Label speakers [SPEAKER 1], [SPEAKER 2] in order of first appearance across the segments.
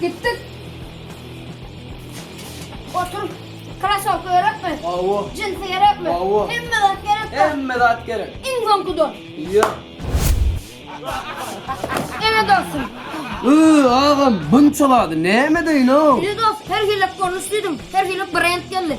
[SPEAKER 1] Gittik. Otur. Krasovka gerekmi? Awo. Jinsi gerekmi?
[SPEAKER 2] Awo.
[SPEAKER 1] Hemme zat gerek.
[SPEAKER 2] Hemme
[SPEAKER 1] zat gerek. Iň
[SPEAKER 2] soňky don.
[SPEAKER 1] Ýa. Ene dostum. Iy,
[SPEAKER 2] agam, bunça zady näme deýin-ow? Ene dost, her hili
[SPEAKER 1] görnüş diýdim. Her hili brend geldi.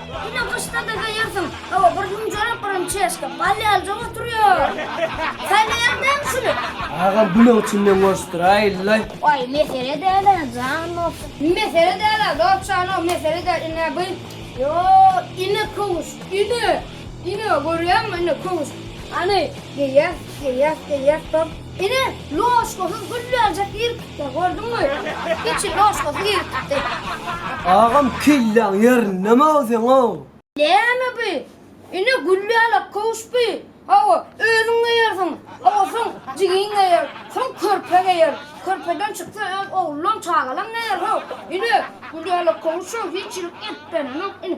[SPEAKER 1] Ine gyşda dede ýersiň. Hawa, bir münjerik, birini çeşke. Bal ýaly joň oturýar. Saýlaýaň näme şuny? Agam bu ne üçin
[SPEAKER 2] men goşdyraý illay. Oý, mesele
[SPEAKER 1] däl-ä, jan bolsun. Mesele däl-ä, dogtjano, mesele däl. Ine bu. Ýo, ine köwüş, ine. Ine, görýäňmi, ine köwüş. Hany, geýýäs, geýýäs, geýýäs, top. Ine, ložkasyz gül berjek ýeri tutdy, gördüňmi? Hiç ložkasyz ýeri tutdy. Agam
[SPEAKER 2] kelläň ýerindemi-ow seň-ow? Näme bu?
[SPEAKER 1] Ine, gül ýalak köwüş bu. Hawa, özüň geýersiň. Hawa, soň jigiň geýer. Soň körpe geýer. Körpeden çyksa öz oglulam, çagalam geýer. Hawa, ine, gül ýalak köwüş-ow, hiç ýerik ep berenok. Ine,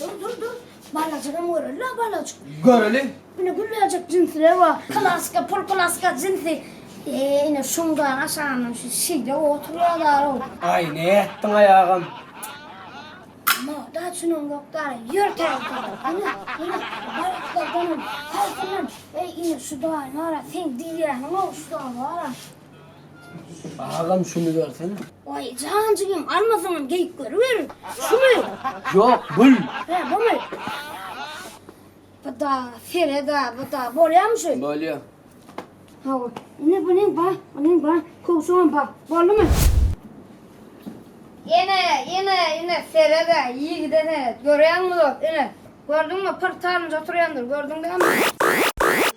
[SPEAKER 1] Dur dur dur. Balajygam göreli la balajyk. Göreli. Ine
[SPEAKER 2] gülläjek
[SPEAKER 1] jinsler bar. Klaska, pul klaska jinsi. Eee ine şundan aşagynam şu şeýle oturýarlar ow. Aý nätdiň
[SPEAKER 2] aý agam. Moda
[SPEAKER 1] üçinem ýok dara. Ýör täzeden. Ine ine balaklardanam haýsyndan. Eý ine şu daýy nara seň diýýäniň ow şu daýy bara.
[SPEAKER 2] Agam şuny bersene. Oý jan
[SPEAKER 1] jigim almasaňam geýip görüber. Şumy? Ýok, gül.
[SPEAKER 2] He, bumy?
[SPEAKER 1] Bu da, sere da, bu da. Bolýamy şu? Bolýa.
[SPEAKER 2] Hawa.
[SPEAKER 1] Ine bu neň ba, bu neň ba, kowşagam ba. Boldumy? Ine, ine, ine sere da, ýigide seret. Görýäňmi dost, ine. Gördüňmi, pyrt salynç oturýandyr, gördüň dämi?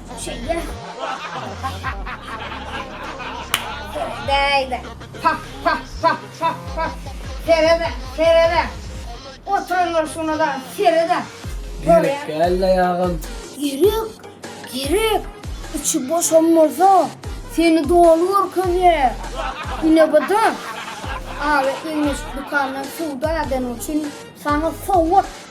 [SPEAKER 1] Şeýle. Bäýle. Pah, pah, pah, pah, pah. Sere-de, sere-de. Oturanlar şuna da sere-de.
[SPEAKER 2] Ýürek gel-de ýagym. Ýürek,
[SPEAKER 1] ýürek. Içi boşam bolsa, seni doly görkezýär. Ine bu-da. Aga Ilmiş dükandan söwda edeniň üçin saňa sowgat.